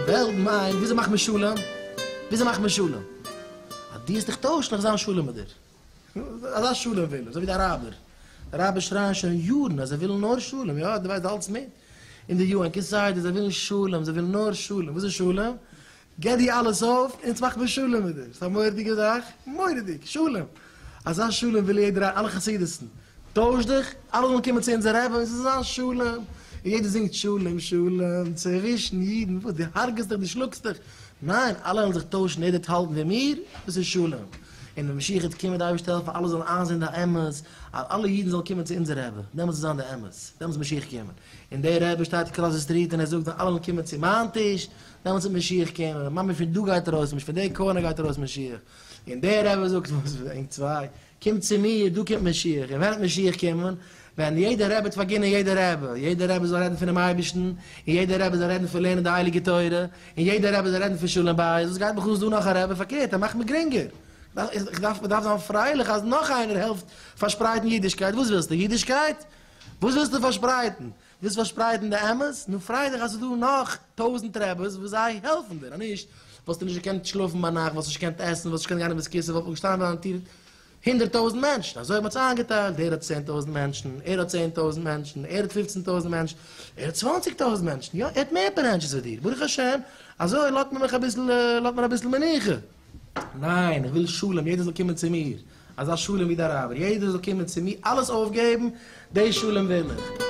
וועלט מיינט וויאזוי מאכט מען שלום? וויאזוי מאכט מען שלום? אז דו וועסט דיך טוישן וועל איך זיין שלום מיט דיר. אזא שלום וויל ער, אזוי ווי די אראבער. די אראבער שרייען שוין יארן אז זיי ווילן נאר שלום, יא, דו ווייסט, דו האלטסט מיט? אין די יו ען כסדר, זיי ווילן שלום, זיי ווילן נאר שלום. וואס איז שלום? געב די אלעס אויף אונז מאך מיר שלום מיט דיר, ס'א מורא'דיגע זאך, מורא'דיג, שלום, אזא שלום וויל יעדער האבן, אלע חסידות'ן, טויש דיך, אלע זאלן קומען צו אונזער רבי, ס'זאל זיין שלום, און יעדער זינגט שלום שלום צווישן אידן, וואס דו הרג'סט דיך, דו שלאגסט דיך, ניין, אלע וועלן זיך טוישן, יעדער וועט האלטן ווי מיר, דאס איז שלום, און ווען משיח וועט קומען וועט די אייבערשטער העלפן אלע זאלן איינזען די אמת, אז אלע אידן זאלן קומען צו אונזער רבי, דעמאלטס וועט זיין די אמת, דעמאלטס וועט משיח קומען, און דער רבי שטייט קראס די סטריט און ער זאגט ווען אלע וועלן קומען צו מיין טיש, דעמאלטס וועט משיח קומען, און ממש פון דא גייט ארויס משיח, פון די קארנער גייט ארויס משיח, און דער רבי זאגט וואס ענק צוויי, קומט צו מיר, דא קומט משיח, און ווען וועט משיח קומען, ווען יעדער רבי וועט פארגינען יעדער רבי, יעדער רבי זאל רעדן פונעם אייבערשטן, און יעדער רבי זאל רעדן פון לערנען די הייליגע תורה, און יעדער רבי זאל רעדן פון שלום בית, וואס גייט מיך אן איז דא נאך א רבי, פארקערט ער מאכט מיר גרינגער, איך דארף, מען דארף זיין פרייליך אז נאך איינער העלפט פארשפרייטן אידישקייט, וואס ווילסטו, אידישקייט? וואס ווילסטו פארשפרייטן? ווילסט פארשפרייטן די אמת? נו פריי דיך אז ס'איז דא נאך טויזנט רעבעס וואס זיי העלפן דיר, אז נישט וואלסטו נישט געקענט שלאפן ביינאכט, וואלסט נישט געקענט עסן, וואלסט נישט געקענט גיין אין בית כסא, וואלט מען געשטאנען אן טיר הונדערט טויזנט מענטשן, אזוי האט מען עס איינגעטיילט, דער האט צען טויזנט מענטשן, ער האט צען טויזנט מענטשן, ער האט פופצן טויזנט מענטשן, ער האט צוואנציג טויזנט מענטשן, יא ער האט מער ברענטשעס ווי דיר, ברוך השם, אזוי לאזט מען מיך אביסל, לאזט מען אביסל מנוחה. ניין, איך וויל שלום, יעדער זאל קומען צו מיר, אזא שלום ווי די אראבער, יעדער זאל קומען צו מיר, אלעס אויפגעבן, דעי שלום וויל איך.